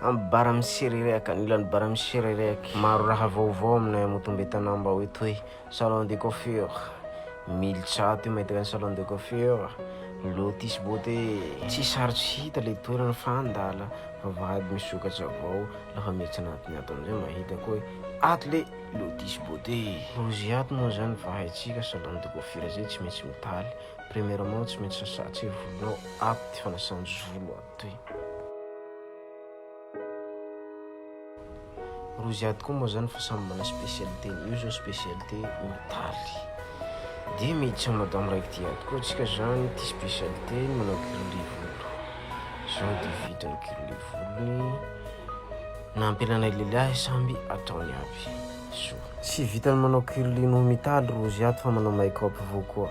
Amby bara misererehaka, ny ilany bara misererehaka. Maro raha vaovao aminay Motombe Tanambao etoy, salon de coiffure, mily tsato io mahita ny salon de coiffure, lotus beauté, tsy sarotra hita le toerana fa andala fa vady misokatra avao lafa miditra anatiny ato amizay mahita koa hoe ato le lotus beauté, rozy ato moa zany fa haitsika salon de coiffure zay tsy maintsy mitaly, premièrement tsy maintsy sasa tseo volonao, ato ty fanasan-jolo ato. Toy. Roa ziady koa moa zany fa samy mana spécialité ny io zao spécialité hôtaly de mety tsy madame raiky ty ady koa tsika zany ty spécialité ny manao grillé volo zao de vidiny grillé volony na ampelanay lelahy samby ataony aby soa tsy vitany manao grillé no mitaly roa ziady fa manao make up vao koa